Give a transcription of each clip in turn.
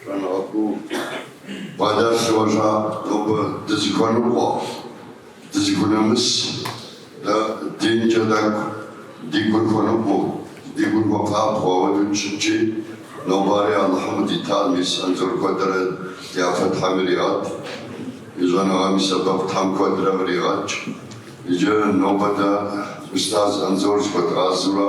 Щӏэныгъэ куу бгъэдэлъ хъужа нобэ дызыхуэныкъуэ, дызыхунэмыс, дэ динкӏэ тӏэкӏу ди гур хуэныкъуэу, ди гур хуэпабгъэу ауэдэу дыщытчи, нобари Алыхьым къыдитар мис Анзор куэдрэ ди япэ Тхьэм иригъэт, и щӏэныгъэм и сэбэп Тхьэм куэдрэ къригъэкӏ. Иджы нобэ дэ устаз Анзор зыхуэдгъазэурэ.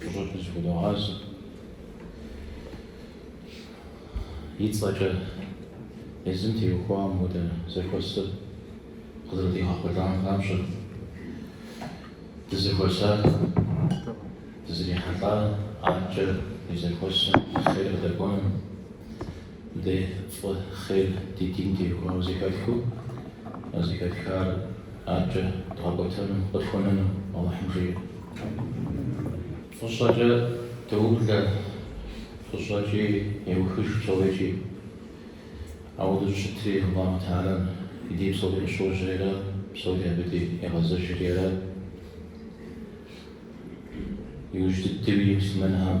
Фӏыщӏэкӏэ зыхудогъазэ. И цӏэкӏэ езым теухуам хуэдэ зэхуэсыр къызэрыдигъэхъулӏам папщӏэ, дызэхуэсар, дызэрихьэлӏар арткӏэ и зэхуэсым хъер къыдэкӏуэну, Дэ фӏы хъер ди дин теухуауэ зэхэтхыу, а зэхэтхар аркӏэ дгъэкӏуэтэну, къытхуэнэну Алыхьым жиӏэ. Фӏыщӏэкӏэ доублэ, фӏыщӏэкӏи еухыж псори. Ауэдэу щытри, Алыхьу Тэхьэлэм и дей псори къыщожьэри, псори абы дей егъэзэжри, иужь дыдэуи муслъымэнхэм.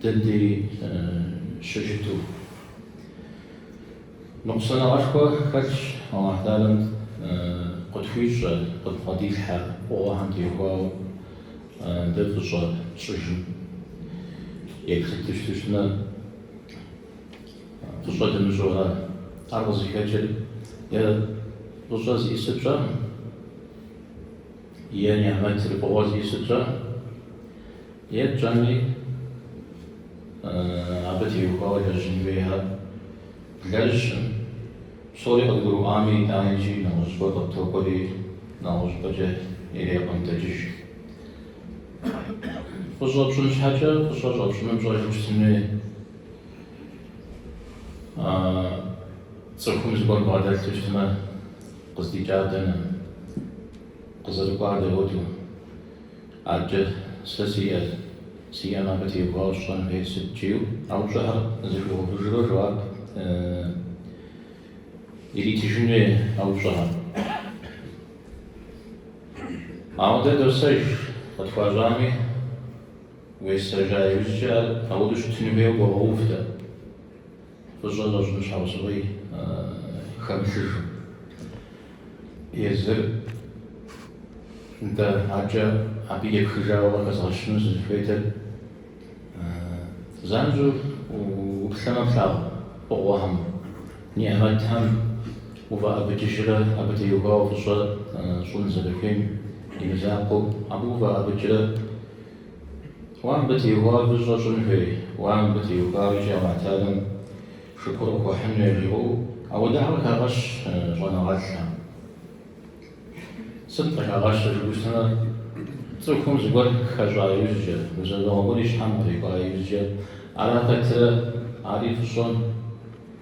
Дэ дей щыщыту ныкъусаныгъэшхуэ хэлъщ Алыхь Тэхьэлэм къытхуищӏэ, къыдбгъэдилъхьэ фӏыгъуэхэм теухуауэ дэ фӏыщӏэ тщӏыжым. Еплъыт дыщыту щытмэ, фӏыщӏэ дымыщӏурэ, ар къызыхэкӏыр е фӏыщӏэ зищӏысыр пщӏэркъым. Е нигьмэтыр фӏыгъуэ зищӏысыр пщӏэркъым, е тщӏэми абы теухуауэ лэжьын хуейхэр блэжьым, псори къыдгурыӏуами, итӏаникӏи нэгъуэщӏыпӏэ къыптокӏуэри, нэгъуэщӏыпӏэкӏэ иреӏуэнтӏэкӏыж. Фӏыщӏэ пщӏын щхьэкӏэ фӏыщӏэ щӏэпщӏыным пщӏэжу щытын хуей. Цӏыхум зыгуэр бгъэдэлъу щытмэ. Къыздикӏар дэнэ? Къызэрыкӏуар дауэду? Аркӏэ, сэ сиӏэ, сиӏэм абы теухуауэ сщӏэн хуейр сыт жиӏэу. А упщӏэхэр зыхуигъэувыжурэ жэуап иритыжын хуей а упщӏэхэм. Ауэ дэ досэж, къытхуащӏами, уесэжа иужькӏэ ар ауэду щытыну хуейуэ къогъэув дэ. Фӏыщӏэ щӏэщӏын щхьэусыгъуи хэмылъыжу. Езыр нтӏэ акӏэ абы епхыжауэ къыхэзгъэщыну сызыхуейтэр занщӏэу уплъэмэ плъагъу фӏыгъуэхэм, нигьмэтхэм уфӏэӏэбыкӏыжрэ абы теухуауэ фӏыщӏэ щӏын зэрыхуейм и мызакъуэу абы уфӏэӏэбыкӏрэ. Уэ мыбы теухуауэ фӏыщӏэ щӏын хуей? Уэ мыбы теухуауэ икӏи Алыхьталэм шыкур къыхуэхьыну яжриӏэу ауэ духьэу къыхагъэщ щӏэныгъэлӏхэм. Сыт къыхагъэщыр жыпӏэу щытмэ, цӏыхум зыгуэр хэщӏа иужькӏэ, гузэвэгъуэ гуэр и щхьэм кърикӏуа иужькӏэ, ара пэтрэ, ари фӏыщӏэ.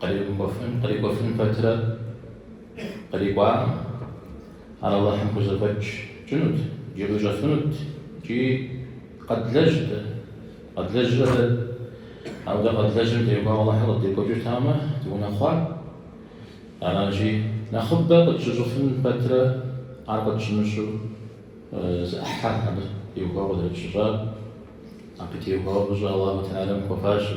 Кърикӏуэфын, кърикӏуэфын пэтрэ кърикӏуам, ар Алыхьым хузэфӏэкӏынут, икӏи къищӏэфынут икӏи къэдлэжьт. Къэдлэжьрэ дэ? Ауэ дэ къэдлэжьым теухуауэ Алыхьыр къыддекӏуэкӏыртамэ, дыунэхъуа? Аращи, нэхъыбэ къытщыщӏыфын пэтрэ ар къытщымыщӏу зы ӏыхьэ абы теухуауэ къызэрытщыщӏар. Абы теухуауэ фӏыщӏэ Аллаху Теалэм хуэфащэ.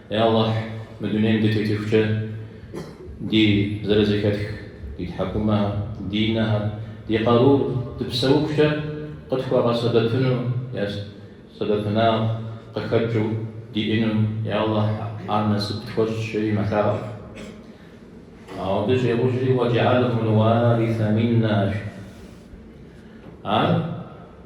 Е Аллахь, мы дунейм дытетыхукӏэ, ди зэрызэхэтх ди тхьэкӏумэхэр, ди нэхэр, ди къарур дыпсэухукӏэ къытхуэгъэсэбэпыну е сэбэпынагъ къыхэкӏыу диӏыну, е Аллахь, ар насып тхуэщӏ, жери мэлъаӏуэ. Ауэ абы щӏигъужри, Уаджыгьэлху луарисэ миннэ, жи. Ар.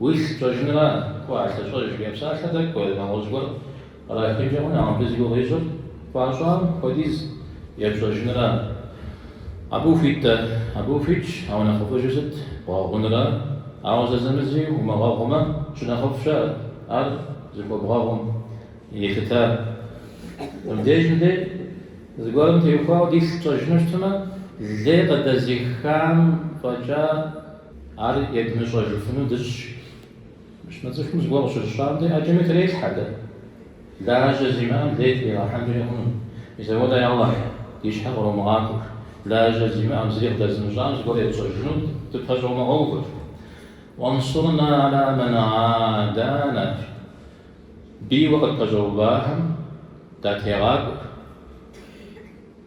Уилъ пщӏэжынра, кӏуэ, а лъыщӏэж, жиӏэ псалъэр дэ кӏуэ, нэгъуэщӏ зыгуэр кърахынкӏэ хъуну, ауэ мыбы зи гугъу ищӏыр хуащӏам хуэдиз епщӏэжынра? Абы ухуит-тӏэ, абы ухуитщ, ауэ нэхъыфӏыжыр сыт, бгъэгъунра? Ауэ зэзэмызи умыгъэгъумэ, щынэхъыфӏ щыӏэ, ар зыхуэбгъэгъум елъыта. Мыбдеж мыдэ зыгуэрым теухуауэ дилъ тщӏэжыну щытмэ, лей къыдэзихам фӏэкӏа, Ар едмыщӏэжыфыну дыщӏ. Мыхъумэ цӏыхум зыгуэр къыщыщӏам де ӏэджэми трелъхьэ дэ. Лажьэ зимыӏэм лей тригъэхьэнкӏэ хъуну. Мис апхуэдэ, е Алыхь, ди щхьэ къромыгъакӏуэ. Лажьэ зимыӏэм, зыри къыдэзымыщӏам зыгуэр етщӏэжыну дыпэщӏэумыгъэувэ. Уансурна ала мэн гӏадана. Бийуэ къытпэщӏэувахэм датегъакӏуэ.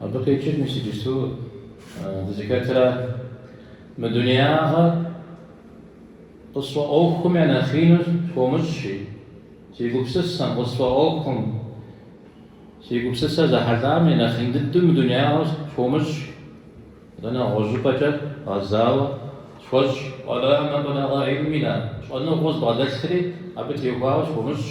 Абы къикӏыр мис иджыпсту дызыхэтра? Мы дунеягъэр къысфӏэӏуэхум я нэхъину схуомыщӏ, жи, си гупсысэм, къысфӏэӏуэхум, си гупсысэр зэхьэлӏам и нэхъин дыдэу мы дунеягъэр схуомыщӏ, атӏэ нэгъуэщӏыпӏэкӏэ гъэзауэ схуэщӏ. Уэ ла мэблэгъэ гӏильминэ, щӏэныгъэу збгъэдэлъри, абы теухуауэ схуомыщӏ.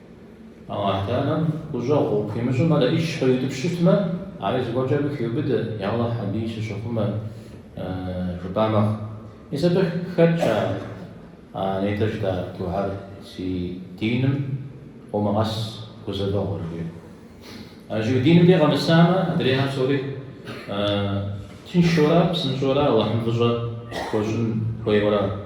Ауэ Аллахьталэм гущӏэгъу хуимыщӏым адэ ӏищ къриутӏыпщ щытмэ, ари зыгуэркӏэ абы хиубыдэ, Я Алыхь, абыи сыщыхъумэ, жыпӏа мэхъу. Мис абы хэтщ а нетӏэ жытӏа дугьэр, Си диным къомыгъэс гузэвэгъуэр, жиӏэу. Ащыгъуэ диным де къэмысамэ, адрейхэр псори тыншура, псынщӏэура, Алыхьым фӏыщӏэ хуэщӏын хуейура.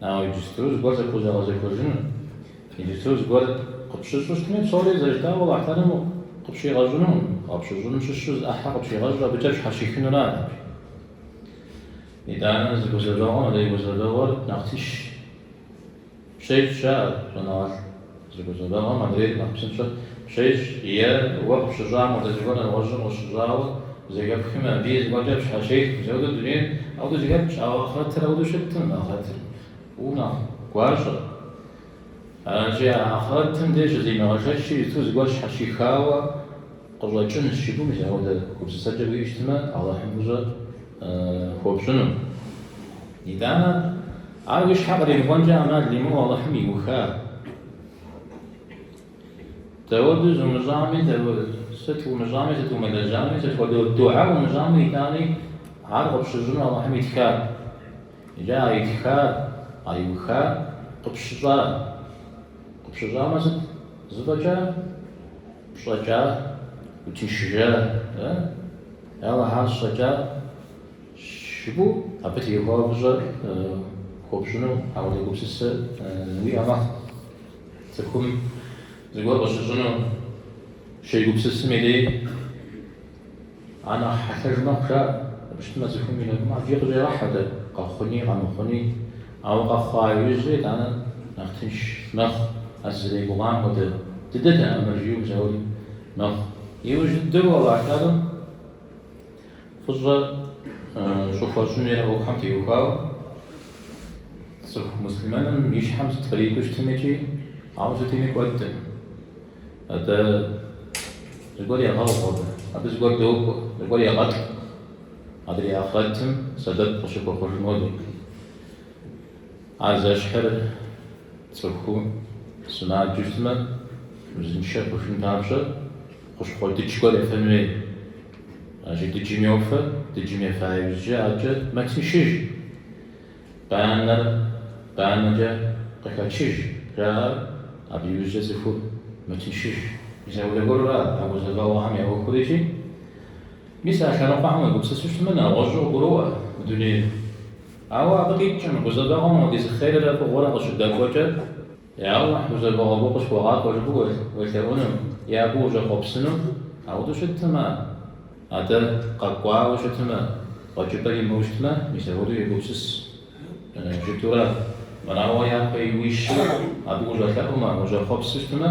Ауэ иджыпсту зыгуэр зэпхузэгъэзэхуэжыну, иджыпсту зыгуэр къыпщыщӏу щытми, псори зэрыжытӏауэ Аллахьталэм къыпщигъэщӏынукъым, къыпщыщӏыным щыщу зы ӏыхьэ къыпщигъэщӏу абыкӏэ пщхьэщихынура. Итӏанэ зы гузэвэгъуэм адрей гузэвэгъуэр нэхъ тынш пщещӏ, жаӏэ щӏэныгъэлӏ. Зы гузэвэгъуэм адрейр нэхъ псынщӏэ пщещӏ, е уэ къыпщыщӏам хуэдэ зыгуэр нэгъуэщӏым къыщыщӏауэ зэхэпхми, абыи зыгуэркӏэ пщхьэщех. Мис ауэдэу дунейр ауэдэу зэхэпхщ, ауэ ахърэтыр ауэдэу щыттым, ахърэтыр фӏыуэ нэхъ гуащӏэщ. Аращи, а ахърэтым де щызимыгъэшэч щыту, зыгуэр сщхьэщихауэ къыщӏэкӏынщ жыпӏэу, мис ауэдэ гупсысэкӏэ уиӏэу щытмэ, Алыхьым фӏыщӏэ. хуопщӏыну. Итӏанэ, ар уи щхьэ къримыкӏуэнкӏэ ӏэмал имыӏэу Алыхьым иуха. Дауэду зумыщӏами, сыт умыщӏами, сыт умылэжьами, сыт хуэдэ дугьэ умыщӏами, итӏани ар къыпщыщӏыну Алыхьым итха. Иджы а итхар, а иухар къыпщыщӏа. Къыпщыщӏамэ сыт? Зэфӏэкӏа? Пщӏэкӏа? Утыншыжа? Ауэ ар щӏэкӏа щыгу абы теухуауэ фӏыщӏэр хуопщӏыну ауэдэ гупсысэ уиӏэ мэхъу. Цӏыхум зыгуэр къыщыщӏыну щегупсысым и дей а нэхъ хьэлъэж мэхъу, жаӏэ. Абы щытмэ, цӏыхум и нэгум ӏэфӏи къыщӏегъэхьэ дэ, къэхъуни, къэмыхъуни. Ауэ къэхъуа иужь дей итӏанэ нэхъ тынш мэхъу, а сызэригугъам хуэдэ дыдэтэӏым ар, жиӏэу псэури мэхъу. Иужь дыдэу Аллахьталэм фӏыщӏэ щӏыхуэщӏын хуей ӏуэхухэм теухуауэ цӏыху муслъымэным и щхьэм сыт кърикӏуэу щытмикӏи ауэ сытми кӏуэдым. Атӏэ зыгуэр егъэгъу абы, абы зыгуэр докӏуэ, зыгуэр егъэтӏ. Адрей ахърэтым сэбэп къыщыхуэхъужыну абы. Ар зэщхьыр цӏыху сымаджэу щытмэ, узыншэ хъужын папщӏэ хущхъуэ дыдж гуэр ефэн хуей. Аращи дыджым йофэ, дыджым ефа иужькӏэ абыкӏэ мэтыншыж, банэр банэкӏэ къыхэчыж жаӏэр, абы иужькӏэ цӏыхур мэтыншыж. ӏэзэгъуэ гуэру ара а гузэвэгъуэхэм я ӏуэхурикӏи. Мис а лъэныкъуэхэм уегупсысу щытмэ, нэгъуэщӏу къыгуроӏуэ мы дунейр. Ауэ абы къикӏкъым, гузэвэгъуэм апхуэдиз хъеррэ фӏыгъуэрэ къыщыдэкӏуэкӏэ, Я Алыхь, гузэвэгъуэ къысхуэгъакӏуэ жыпӏэу уелъэӏуну, е абы ущӏэхъуэпсыну, ауэдэу щыткъым, атӏэ, къэкӏуауэ щытмэ, къуэкӏыпӏэр имыӏэу щытмэ, мис апхуэдэу егупсыс. Жытурэ, мырауэ япэ иуищмэ, абы ущӏэлъэӏумэ, ущӏэхъуэпсу щытмэ,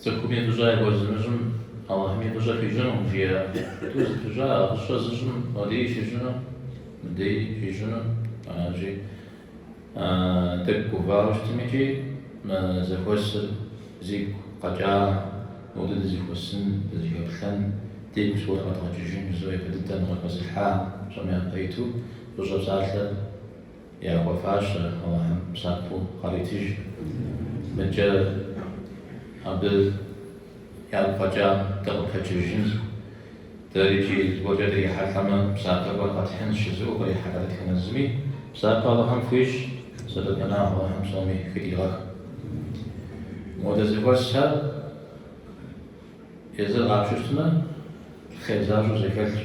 Цӏыхуми фӏыщӏэ яхуэзымыщӏым Алыхьми фӏыщӏэ хуищӏынукъым жиӏэ. Тӏу зэпыщӏа а фӏыщӏэ зыщӏым модей щищӏыну, мыдей щищӏыну аращи, тӏэкӏу гувауэ щытми иджы мы зэхуэсыр зигу къэкӏа модэ дызэхуэсын, дызэхэплъэн, дигу зыгуэр къэдгъэкӏыжын жызыӏэу япэ дыдэ къыхэзылъхьа пщӏэм япэ иту фӏыщӏэ псалъэ. Яхуэфащэ Алыхьым псапэу къаритыж. Мыдкӏэ Абы ягу фӏэкӏа дыкъыпэкӏыжын. Дэри иджы зыгуэркӏэ дрихьэлӏэмэ, псапэхэр къэтхьынщ, жызыӏэу кърихьэлӏэ дэтхэнэ зыми. Псапэ Алыхьым хуищӏ, сэбэпынагъ Алыхьым псоми хыдигъэх. Модэ зэхуэсхэр езыр къапщтэмэ, хъер защӏэу зэхэлъщ.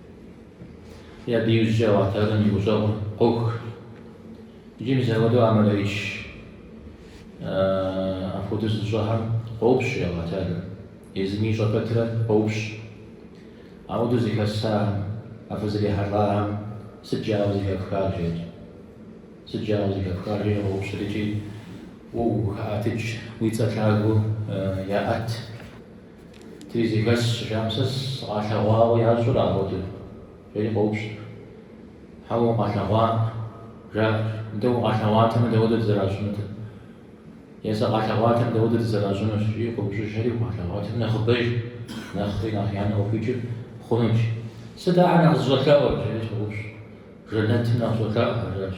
Абы иужькӏэ Аллаху Тэӏалэм и гущӏэгъур къох. Иджы мис апхуэдэу а мэлэӏыч апхуэдэу зыщӏэхэм къоупщӏ Аллаху Тэӏалэр. Езым ищӏэ пэтрэ къоупщӏ. Ауэдэу зэхэсахэм, апхуэдэ зрихьэлӏахэм сыт жаӏэу зэхэфхар, жери. Сыт жаӏэу зэхэфхар, жери къоупщӏыр икӏи уэ ухаӏэтыкӏ, уи цӏэ лъагэу яӏэт. Тыри зэхэсщ, жаӏэм сэ сыкъалъэгъуауэ ящӏэрэ апхуэдэу, жери къоупщӏ. Хьэуэ, укъалъэгъуакъым, жаӏэ. Нтӏэ, укъалъэгъуатэмэ, дауэдэт зэращӏынутыр? Е сыкъалъэгъуатэмэ, дауэдэт зэращӏынур? жи къоупщӏыжри, укъалъэгъуатэмэ, нэхъыбэж, нэхъри нэхъ янэ къыхуикӏыр хъунущ. Сыт ахэр нэхъ зыщӏэлъэӏур? жери щӏоупщӏ. Жэнэтым нэхъ щӏолъэӏу, жаӏащ.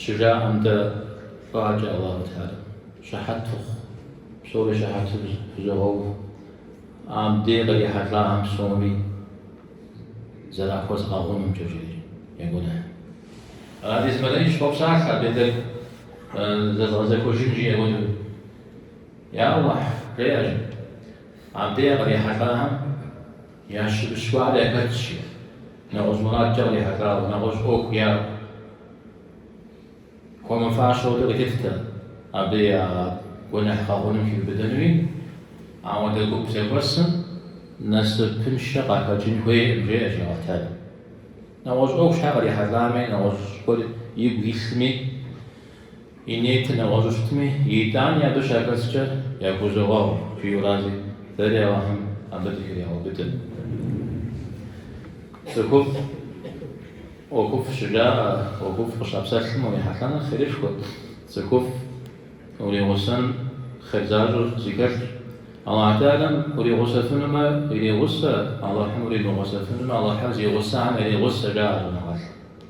Щыжаӏэм дей адэкӏэ Аллаху Тэӏалэм щыхьэт фыхъу, псори щыхьэту фызогъэув. Абдей кърихьэлӏахэм псоми зэрахуэзгъэгъунумкӏэ, жери я гуэныхь. Абдей зы мэлэӏыч къопсалъэ абдей тӏэкӏу зэзгъэзэхуэжын жиӏэ хуэдэу. Я Аллахь, жеӏэ жи, абдей кърихьэлӏахэм. Ящыщ гуэр яхэтщи, нэгъуэщӏ мурадкӏэ кърихьэлӏауэ, нэгъуэщӏ ӏуэху яӏэу, хуэмыфащэу дэ къыдолъытэ абы я гуэныхь гъэгъуным хиубыдэнуи. Ауэдэ гуп зэхуэсым насыпыншэ къахэкӏын хуейкъым, жеӏэ жи Аллаху Тэӏалэм. Нэгъуэщӏ ӏуэху щхьэ кърихьэлӏами, нэгъуэщӏ гуэр игу илъми, И ниети нэгъуэщӏу щытми, итӏани абы щахэскӏэ яхузогъэгъу жиӏэу аращи, дэри Алыхьым абы дыхригъэубыдэ. Цӏыхуфӏ ӏуэхуфӏ щыжаӏэ, ӏуэхуфӏ къыщапсэлъым урихьэлӏэныр хъерышхуэт, цӏыхуфӏ уригъусэн хъер защӏыр зыхэлъщ. Алыхь Тэхьэлам уригъусэфынумэ, иригъусэ, Алыхьым уримыгъусэфынумэ, Алыхьыр зи гъусэхэм яригъусэ, жаӏэ щӏэныгъэлӏым.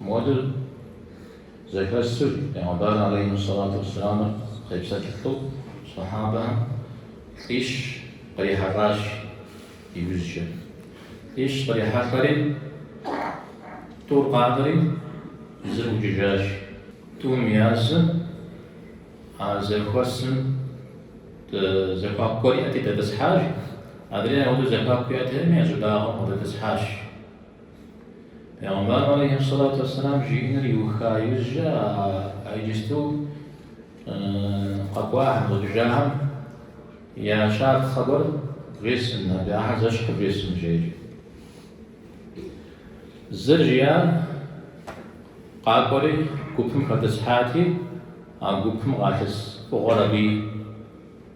Модыр зэхэсыр пэйгъэмбар алейхи ссалату уэсселамыр къепсэлъылӏу сэхьабэхэм лӏищ кърихьэлӏащ иужькӏэ. Лӏищ кърихьэлӏэри тӏур къанэри зыр ӏукӏыжащ. Тӏум язым а зэхуэсым зэхуаку гуэр иӏэти дэтӏысхьащ, адрейр ауэдэу зэхуаку иӏэтэкъыми я щӏыбагъым къыдэтӏысхьащ. Пегъэмбар алейхиссалату вассалам жиӏэныр иуха иужькӏэ а иджысту къэкӏуахэм, ӏукӏыжахэм я щапхъэ гуэр вжесӏэн, абы ахьэр зэщхьыр вжесӏэн, жи икӏи. Зыр, жиӏащ, къакӏуэри гупым хэтӏысхьати, а гупым къалъыс фӏыгъуэр абы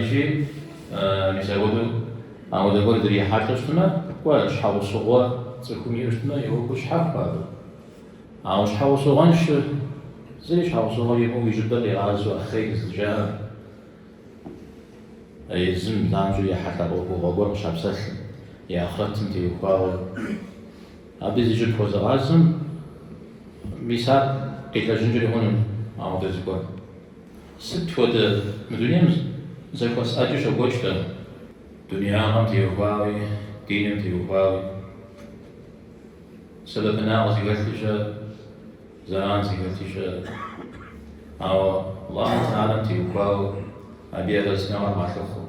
Икӏи мис ахуэдэу ауэдэ гуэр дрихьэлӏэу щытмэ, кӏуэ, щхьэгъусыгъуэ цӏыхум иӏэу щытмэ, и ӏуэху щхьэхуэ абы. Ауэ щхьэгъусыгъуэншэр зыри щхьэгъусыгъуэ имыӏэу и щӏыбыр къигъазэу ахъей зыджаӏэр езым занщӏэу ехьэлӏа ӏуэхугъуэ гуэр къыщапсэлъым, и ахърэтым теухуауэ. Абы зи щӏыб хуэзыгъазэм, мис ар къилэжьынкӏэри хъуну ауэдэ зыгуэр. Сыт хуэдэ мы дунейм зэхуэс ӏэджи щокӏуэкӏ-тӏэ, дунеягъэм теухуауи, диным теухуауи, сэбэпынагъ зыхэлъи щыӏэ, зэран зыхэлъи щыӏэ, ауэ Аллахь Тэхьэлам теухуауэ, абы и арэзыныгъэр къалъыхъуэу.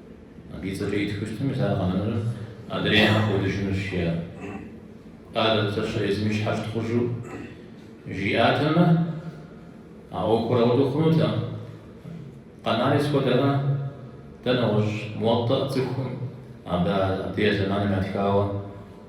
Ди цӏэкӏэ итхыу щытмэ, мис ар къэнэну адрейхэр кӏуэдыжынущ, жиӏат. Къалэ псэщхьэ езым и щхьэ щытхъужу жиӏатэмэ, а ӏуэхур ауэдэу хъунутэкъым. Къэнари сыт хуэдэ нэгъуэщӏ Муватӏа цӏыхум, абы а деж зэманым ятхауэ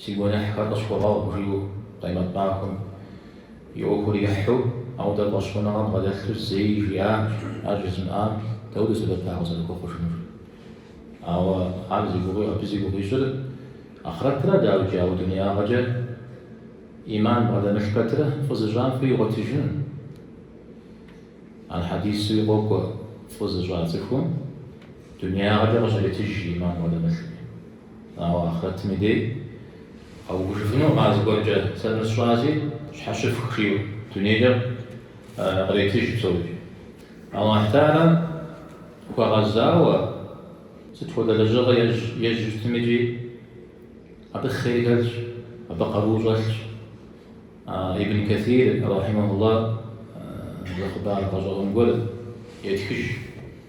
Си гуэныхьхэр къысхуэгъэгъу, жиӏэу Къемэт махуэм и ӏуэхур ехьу, ауэдэ фӏэщхъуныгъэ бгъэдэлъу зэи жиӏакъым, ар жызымыӏам дауэдэу сэбэп ар къызэрыхуэхъужынур? Ауэ ар зи гугъуи, абы зи гугъу ищӏыр ахърэтра дауикӏи, ауэ дунеягъэкӏэ ӏиман бгъэдэмылъ пэтыр фӏы зыщӏам фӏы игъуэтыжын. Ар хьэдисуи къокӏуэ, фӏы зыщӏа цӏыхум дунеягъэкӏэ къыщритыж ӏиман бгъэдэмылъми. Ауэ ахърэтым и дей къэувыжыфынукъым а зыгуэркӏэ, сэ нысщӏази щхьэщыфх жиӏэу дунейкӏэ къретыж псори. Аллахь Тэхьэлам хуэгъэзауэ сыт хуэдэ лэжьыгъэ ежь щытмикӏи абы хъер хэлъщ, абы къару щӏэлъщ. Ибн Кэсир рахьимэхулла зы хъыбар гъэщӏэгъуэн гуэр етхыж.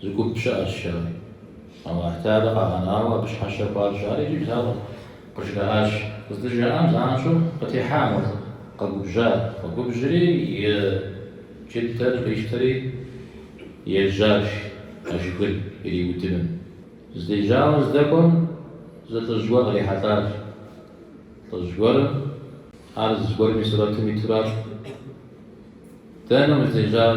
Зы гуп щыӏэщ, жери, Аллахь Тэхьэлар къагъэнауэ абы щхьэщэ хуащӏ. Ар иджы благъут, къыжраӏащ. Къыздыжраӏам занщӏэу къытехьа мыр, къэгубжьат. Къэгубжьри, и джыдэр къищтэри ежьащ а жыгыр ириудыным. Здежьауэ здэкӏуэм зы лӏыжь гуэр кърихьэлӏащ. Лӏыжь гуэрым ар зыгуэрым и сурэтым итуращ. Дэнэ уздежьар?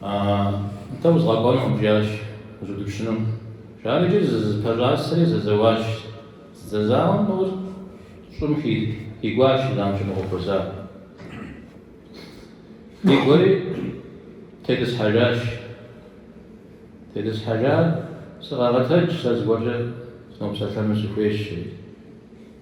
Атэ узгъэкӏуэнукъым, жиӏащ уздиупщӏынум. Жары иджы зызэпэщӏасэри зэзэуащ. Зэзауэм нэужь щӏым хигуащ жиӏам щыфӏэхъуэхуэзар. Къикӏуэри тетӏысхьэжащ. Тетӏысхьэжар, Сыкъэгъэтэдж, сэ зыгуэркӏэ сынопсэлъэну сыхуейщ, жери.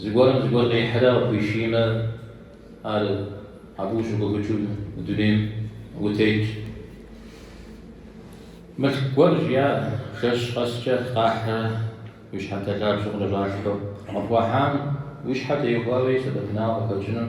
Зыгуэрым зыгуэр къихьрэ къыпхуишиймэ, ар абы ущыгуфӏыкӏыу мы дунейм утетщ. Мылъку гуэр жиӏа жэщ къэскӏэ къахьрэ уи щхьэнтэ лъабжьэм къыкӏэщӏалъхьэу. Къыпхуахьам уи щхьэ теухуауи сэбэпынагъэ къыхэкӏыну.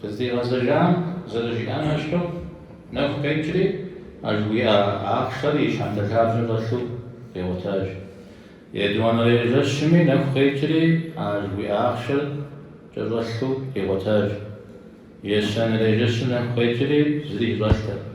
Къыздигъэзэжам зэрыжиӏам ещхьу, нэху къекӏри, а жыхуиӏа ахъшэр и щхьэнтэ лъабжьэм щӏэлъу къигъуэтащ. Етӏуанэрей жэщми нэху къекӏри, а жыхуиӏа ахъшэр кӏэщӏэлъу къигъуэтащ. Ещанэрей жэщым нэху къекӏри, зыри кӏэщӏэлътэкъым.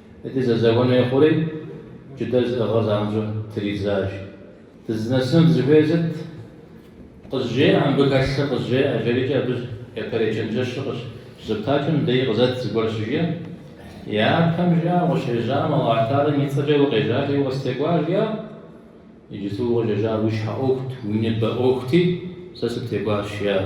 Ди зэзэуэн хуей хъури, джыдэр зыӏыгъыр занщӏэу тридзащ. Дызынэсыну дызыхуейр сыт? Къызжеӏэ мыбы хэлъыр, къызжеӏэ, жэрикӏэ абы япэрей чэнджэщыр къыщызэптакӏэ мыдэи къызэт зыгуэр щыжиӏэ. Япэм жиӏар укъыщежьам, Алыхь Тхьэм и цӏэкӏэ укъежьати, укъыстекӏуащ жиӏар. Иджыпсту укъыщӏежьар уи щхьэ ӏуэхут, уи ныбэ ӏуэхути, сэ сыптекӏуащ жиӏар.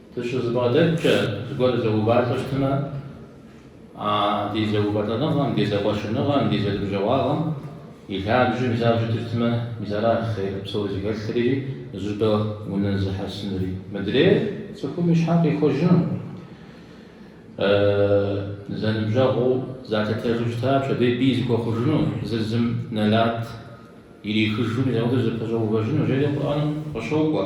Дыщызэбгъэдэткӏэ зыгуэр зэувалӏэу щытмэ, а ди зэувэлӏэныгъэм, ди зэкъуэщыныгъэм, ди зэныбжьэгъуагъэм и лъабжьэ мис арауэ щытыфтмэ, мис аращ хъер псори зыхэлъри, зыщӏыпӏэ унэзыхьэсынри. Мыдрейр цӏыхум и щхьэр къихуэжыну, зэныбжьэгъуу залъытэжу щыта пщэдей бий зыхуэхъужыну, зыр зым нэлат ирихыжу мис апхуэдэу зэпэщӏэувэжыну, жери Къурӏэным къыщокӏуэ.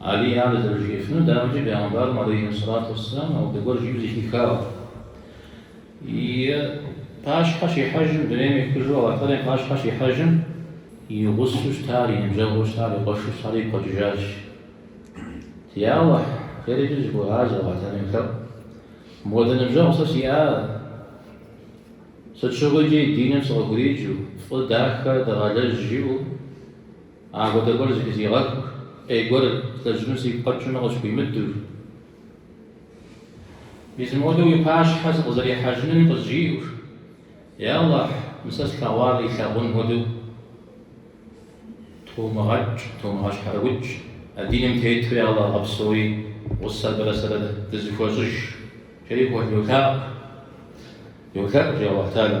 Алий ар зэрыжиӏэфынур дауэми ди пегъэмбарым алейхьиссалату уассалам ауэдэ гуэр жиӏэу зэхихауэ и пащхьэ щихьэжым дунейм ехыжу Аллахь Теалэм и пащхьэ щихьэжым и гъусэу щытар, и ныбжьэгъуу щытар, и къуэшу щытар игу къэкӏыжащ. Я Аллахь, хейр икӏи зыхуегъазэ Аллахь Теалэм елъэӏуу. Мыпхуэдэ ныбжьэгъу сэ сиӏар, сыт щыгъуи икӏи диным сыкъыхуриджу, фӏы дахэ дыгъэлэжь жиӏэу, Апхуэдэ гуэр зэхызигъэхыу, ӏей гуэр злэжьыну сигу къэкӏыну къысхуимыдэу. Мис мыуэдэу уи пащхьэ сыкъызэрихьэжынуи къызжиӏэу. Е Аллахь, мы сэ слъэгъуар илъагъун хуэдэу тумыгъэкӏ, тумыгъэщхьэрыукӏ, а диным тету я Аллахь гъэпсэуи гъусэ абырэ сэрэ дызэхуэщӏыж, жери Аллахь йолъэӏу. Йолъэӏу, жи Аллахь Теалэ.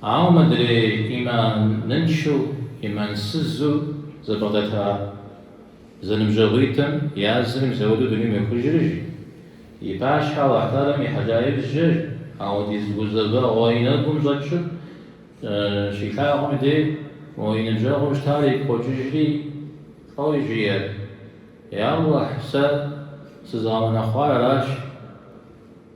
Ауэ мыдрей ӏиманыншэу, ӏимансызу зэбгъэдэта зэныбжьэгъуитӏым я зыр мис ауэдэу дунейм йохыжри, жи, и пащхьэ Аллахь Тӏалэм ихьэжа иужькӏэ ауэдиз гузэвэгъуэ и нэгум щӏэкӏыу щилъагъум дей уэ и ныбжьэгъуу щытар игу къокӏыжри, фӏэуи жиӏэр, Я Аллахь, сэ сызгъэунэхъуар аращ.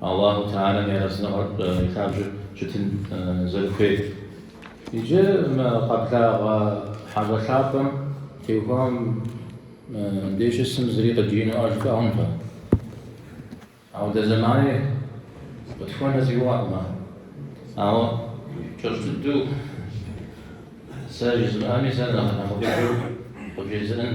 Аллаху Теалэм и Арэзыныгъэр и лъабжьэм щытын зэрыхуейр. Иджы мы къэблагъэ хьэщӏэ лъапӏэм теухуа мыдей щысым зыри къыджиӏэну ӏэж хуэӏункъым. Ауэ дэ зэмани къытхуэнэ зиуӏэкъым ар. Ауэ кӏэщӏ дыдэу сэ жызмыӏэми, сэ нэхъ нэхъыфӏыжу къыжезыӏэн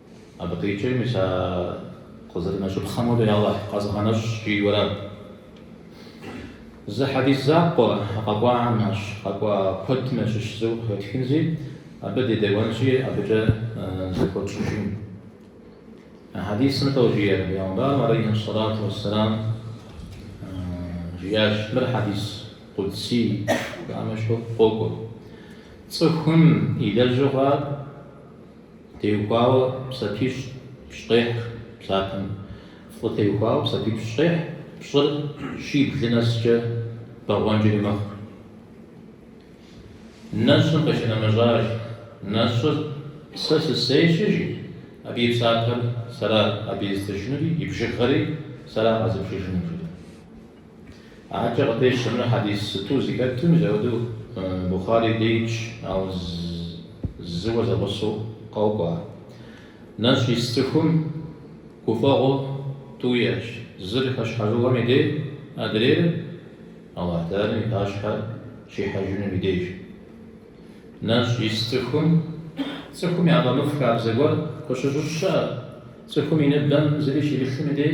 Абы къикӏи, мис а къызэрынэщӏыпхъэм хуэдэу Алыхь къэзгъэнэщӏщ, жиӏэу арат. Зы хьэдис закъуэ къэкӏуахэм ящыщ, къэкӏуа куэдым ящыщ зыу къыхэтхынзи, абы дедэӏуэнщи, абыкӏэ зэхуэтщӏыжын. А хьэдисым сыту жиӏэр, пэйгъэмбарым алейхьи сэлату уэсселам жиӏащ, мыр хьэдис къудсий, жаӏэм ещхьу къокӏуэ. Цӏыхум и лэжьыгъэр Теухуауэ псапипщӏ ехь псапэм. Фӏы теухуауэ псапипщӏ ехь пщӏыр щиблым нэскӏэ бэгъуэнкӏэри мэхъу. Нэщӏым къыщынэмыщӏащ. Нэщӏыр сэ сысейщ, жи, абы и псапэр сэра абы езытыжынури, и бжыгъэри сэра къэзыбжыжынур, жи. Аркӏэ къытещтэмрэ хьэдиситӏу зи хэтым, мызэӏуэду Бухъари деж, ауэ зыуэ зэгъусэу къокӏуэ. Нэщӏ ис цӏыхум гуфӏэгъуэ тӏу иӏэщ, зыр хэщхьэжыгъуэм и дей, адрейр Аллахь Тэгьалэм и пащхьэ щихьэжынум и деж. Нэщӏ ис цӏыхум, цӏыхум яфӏэмыфӏ хабзэ гуэр къыщыщыщӏ щыӏэ, цӏыхум и ныбэм зыри щимылъым и дей,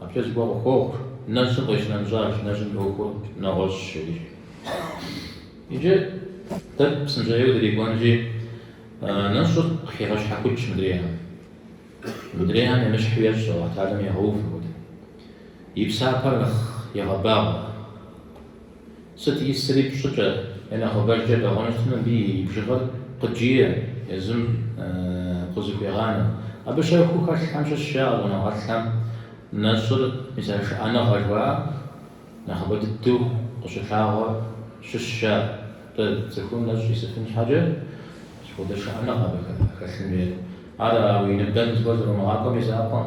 Абыкӏэ зыгуэр къыхуохъу, нэщӏым къищынэмыщӏащ, нэщӏым и ӏуэхур нэгъуэщӏщ жи. Иджы дэ псынщӏэжьейуэ дырикӏуэнщи, нэщӏыр къыхегъэщхьэхукӏ мыдрейхэм. Мыдрейхэм емыщхьу ещӏ Аллахь Тэгьалэм егъэув апхуэдэу. И псапэр нэхъ егъэбагъуэ. Сыт исри пщӏыкӏэ е нэхъыбэжкӏэ бэгъуэну щытмэ, мыбы и бжыгъэр къыджиӏэм, езым къызыхуегъанэ. Абы щэхуу хэлъхэм щыщщ жаӏэ щӏэныгъэлӏхэм нэщӏыр мис а шыӏэныгъэ жыхуаӏэм нэхъыбэ дыдэу къыщылъагъуэр щыщщ жаӏэ. Атӏэ цӏыхум нэщӏ исыфын щхьэкӏэ сыт хуэдэ шыӏэныгъэ абы хэлъын хуейр. Ар уи ныбэм зыгуэр зэрумыгъакӏуэм и закъуэм.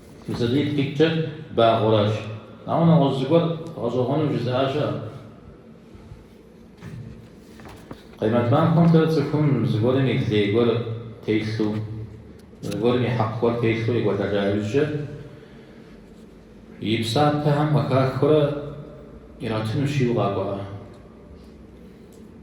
Мисалий ткӏитӏкӏэ багъуэращ. Ауэ нэгъуэщӏ зыгуэр гъэщӏэгъуэну жызыӏа щыӏэ? Къемэт махуэмкӏэ цӏыхум зыгуэрым и лей гуэр телъу, зыгуэрым и хьэкъ гуэр телъу екӏуэлӏэжа иужькӏэ, и псапэхэм къыхахыурэ иратыну жиӏэу къэкӏуа.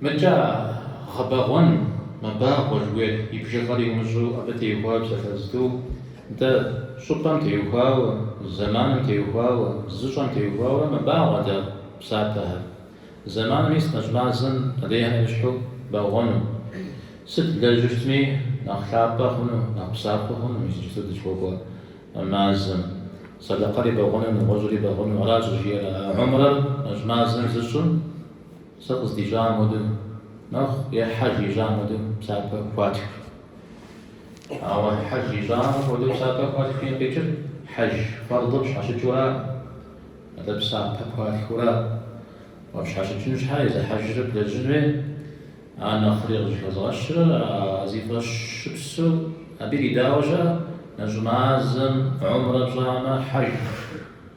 Мыбыкӏэ гъэбэгъуэн мэбагъуэ жыхуиӏэр и бжыгъэр умыщӏэу абы теухуауэ псалъэ зытӏу, дэ щӏыпӏэм теухуауэ, зэманым теухуауэ, зыщӏэм теухуауэ мэбагъуэ дэ псапэхэр. Зэманым, мис нэщӏ мазэм къыдехьэ ещхьу бэгъуэну. Сыт блэжьми нэхъ лъапӏэ хъуну, нэхъ псапэ хъуну иджыпсту дызыхуэкӏуэ мазэм. Сэдэкъэри бэгъуэну, нэгъуэщӏри бэгъуэну, аращ жиӏэр а гьумрэр нэщӏ мазэм зыщӏым. Сэ къыздищӏам хуэдэу нэхъ е Хьэж ищӏам хуэдэу псапэ хуатх. Ауэ Хьэж ищӏам хуэдэу псапэ хуатхым къикӏыр Хьэж фэрдыр пщхьэщыкӏыу ара? Атӏэ псапэ хуатхыу ара, уэ пщхьэщыкӏын щхьэ езы Хьэжыр блэжьын хуей, ар нэхъри къыщӏыхэзгъэщыр, а зи фӏэщыпсу абы иридауэ щыӏэ, нэщӏ мазэм гьумрэ пщӏамэ, Хьэж.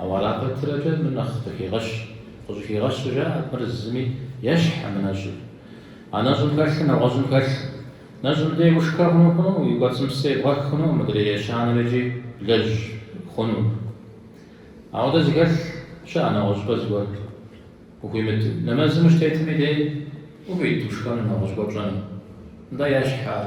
Ауэ ара пэтрэкӏэ мыр нэхъ къыхегъэщ. Къыщӏыхигъэщу жаӏэ, мыр зыми ещхьым нэщӏыр. А нэщӏым хэлъыр нэгъуэщӏым хэлъым. Нэщӏым дей ушхэ хъуну хъуну, уи кӏуэцӏым псы ебгъэх хъуну, мыдрей ещанэр икӏи блэжь хъуну. Апхуэдэ зыхэлъ щыӏэ нэгъуэщӏыпӏэ зыгуэр. Ухуимыт, нэмэзым ущытетми дей ухуит ушхэну нэгъуэщӏ гуэр пщӏэну. Нтӏэ ещхь ар.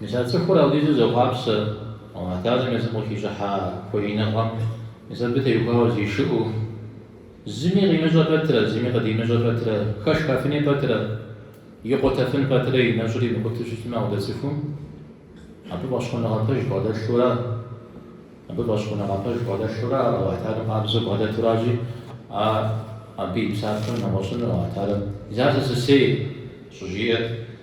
Мис а цӏыхур апхуэдизу зэхъуапсэ, Алыхьталэм езым къыхищӏыхьа хуэиныгъэм, мис абы теухуауэ зишыӏэу, зыми къимыщӏэ пэтрэ, зыми къыдимыщӏэ пэтрэ, хэшхэфыни пэтрэ, икъутэфын пэтрэ и нэщӏри мыкъутэу щытмэ ауэ дэ цӏыхум, абы фӏэщхъуныгъэ пэж бгъэдэлъурэ, абы фӏэщхъуныгъэ пэж бгъэдэлъурэ ар Алыхьталэм къабзэу бгъэдэтуращи, а абы и псапэм нэгъуэщӏыну Алыхьталэм, Ар сэ сысейщ, щӏыжиӏэр.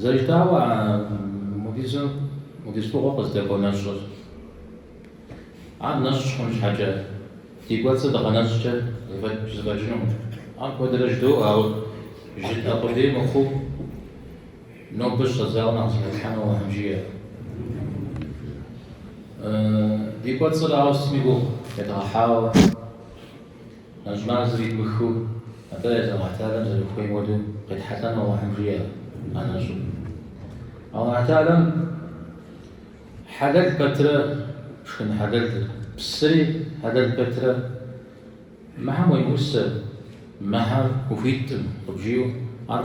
Зэрыжытӏауэ, апхуэдиз фӏыгъуэ къыздэкӏуэ нэщӏыр. Ар нэщӏ хъун щхьэкӏэ, ди кӏуэцӏыр дыгъэнэщӏкӏэ зэфӏэкӏынукъым. Ар куэдрэ жыдоӏэ, ауэ жытӏэ къудей мыхъуу, нобэ щӏэдзауэ нэхъ зыхэтхьэну Алыхьым жиӏэ. Ди кӏуэцӏыр, ауэ сытми гугъу едгъэхьауэ. Нэщӏ мазэр идмыхыу, атӏэ езы Алыхьталэм зэрыхуейм хуэдэу къетхьэлӏэну Алыхьым жиӏэ а нэщӏыр. Алыхьталэм хьэлэл пэтрэ шхын хьэлэл псыри хьэлэл пэтрэ Мыхэм уемыӏусэ, мыхэр ухуиткъым, къыбжиӏэу ар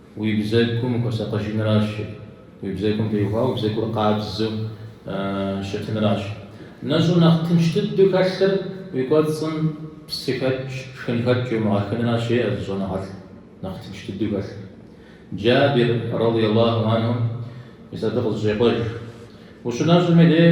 Уи бзэгум ухуэсакъыжынращ, уи бзэгум теухуауэ уи бзэгур къабзэу щытынращ. Нэщӏу нэхъ тынш дыдэу хэлъыр уи кӏуэцӏым псыхэкӏ, шхынхэкӏ иумыгъэхынращ, жеӏэ зы щӏэныгъэлӏ нэхъ тынш дыдэу хэлъыр. Джабир, радий Аллаху анху, мис абы къызэщӏекъуэж, Ущынэщӏым и дей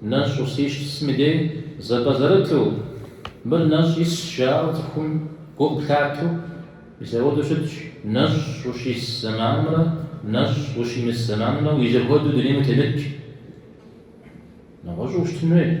Нэщӏ ущисым и дей зэпӏэзэрыту, мыр нэщӏ исщ жаӏэу цӏыхум гу къыплъатэу, мис апхуэдэу щытщ нэщӏ ущис зэманымрэ нэщӏ ущимыс зэманымрэ узэхуэдэу дунейм утемыт, жи. Нэгъуэщӏу ущытын хуейт.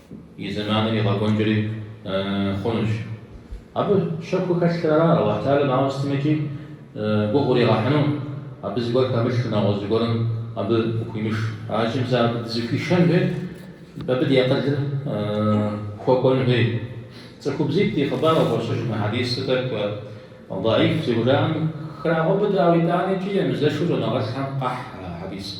И зэманыр игъэкӏуэнкӏэри хъунущ. Абы щэхуу хэлъхэр ара Алыхьталэм ауэ сытмикӏи гугъу уригъэхьыну, абы зыгуэр хэмылъу, нэгъуэщӏ зыгуэрым абы къыхуимыш. Аращи, мис абы дызыхуишэн хуейт, абы ди акъылыр хуэкӏуэн хуейт. Цӏыхубзитӏ и хъыбар къыхощыж мы хьэдисым, тӏэкӏу даиф зыхужаӏэм храгъэубыдэ, ауэ итӏаникӏи мызэу щӏэныгъэлӏхэм къахь а хьэдисыр.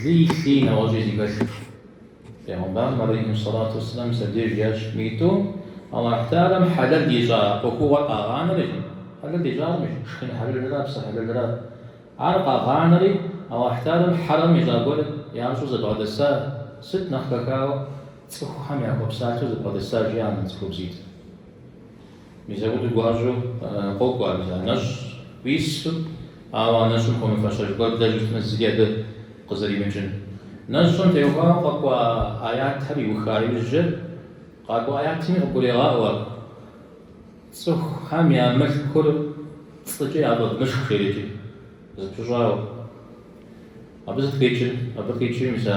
Лыи лъыи нэгъуэщӏи зыхэлъ. Пейгъэмбарым алейхи салату вассалам мис абдеж жиӏащ: Мы тӏум Аллахь Теалэм хьэлэл ищӏа ӏуэхугъуэр къагъанэри, хьэлэл ищӏар шхын хьэлэлрэ псы хьэлэлрэ. Ар къагъанэри, Аллахь Теалэм хьэрэм ищӏа гуэр ящӏу зэбгъэдэса, сыт нэхъ хэхауэ цӏыхухэм яхуэпсалъэу зэбгъэдэса, жи, а цӏыхубзитӏ. Мис апхуэдэу гуащӏэу къокӏуэ мис а нэщӏ уису, ауэ нэщӏым хуэмыфащэ зыгуэр блэжьу щытмэ зыри абы къызэримыкӏын. Нэщӏым теухуауэ къэкӏуа аятхэр иуха иужькӏэ, къакӏуэ аятми къыгурегъаӏуэ ар. Цӏыхухэм я мылъкур пцӏыкӏэ яфӏэвмышх жерикӏи, зэпыщӏауэ. Абы сыт къикӏыр? Абы къикӏыр, мис а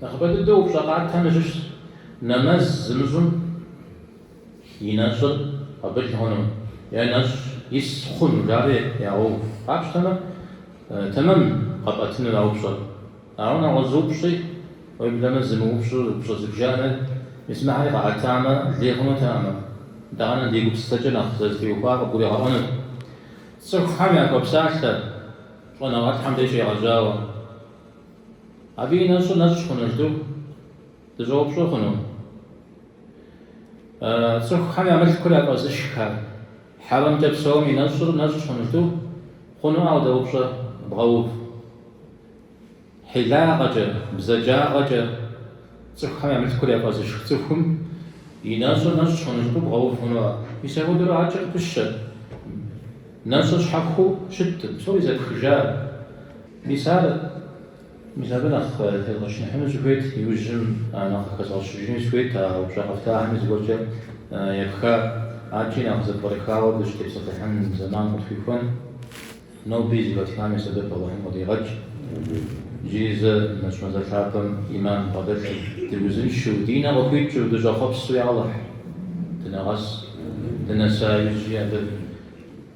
Нэхъыбэ дыдэу упщӏэ къатхэм ящыщщ нэмэз зымыщӏым и нэщӏыр къабыл хъуну е нэщӏ ис хъуну жари ягъэув. Къапщтэмэ, тэмэм къэпӏэтынур а упщӏэр. Ауэ нэгъуэщӏ зы упщӏи, уеблэмэ зы мыупщӏэу упщӏэ зыбжанэ, мис мыхэри къаӏэтамэ, лей хъунутэкъым. Итӏанэ ди гупсысэкӏэ нэхъ зытеухуар къыбгуригъэӏуэнут. Цӏыхухэм яхуэпсалъэ щӏэныгъэлӏхэм деж щегъэжьауэ. Абы и нэщӏыр нэщӏ хъуну жытӏэу дыщӏэупщӏэ хъуну? Цӏыхухэм я мылъкур яфӏэзышхар хьэрэмкӏэ псэум и нэщӏыр нэщӏщ хъуну жду? Хъунуӏэ апхуэдэ упщӏэ бгъэув. Хьилагъэкӏэ, бзаджагъэкӏэ цӏыхухэм я мылъкур яфӏэзышх цӏыхум и нэщӏыр нэщӏ хъуну жыпӏэу бгъэув хъунуӏэ? Мис апхуэдэурэ адэкӏэ къыпыщэ. Нэщӏыр щхьэхуэу щыткъым, псори зэпхыжа. Мис ар мис абы нэхъ тезгъэчыныхьыну сыхуейт, иужьым нэхъ къыхэзгъэщыжыни сыхуейт, а упщӏэ къэфтахэми зыгуэркӏэ епха адэкӏи нэхъ зэпкърыхауэ дыщытепсэлъыхьын зэман къытхуихуэн. Ноби зи гугъу тщӏам и сэбэп Алыхьым къыдигъэкӏ. Иджыри зэ нэщӏ мазэ лъапӏэм ӏиман дбгъэдэлъу, дыузыншэу, ди нэ къыхуикӏыу, дыщӏэхъуэпсу я Алыхь дынэгъэс, дынэса иужьи абы.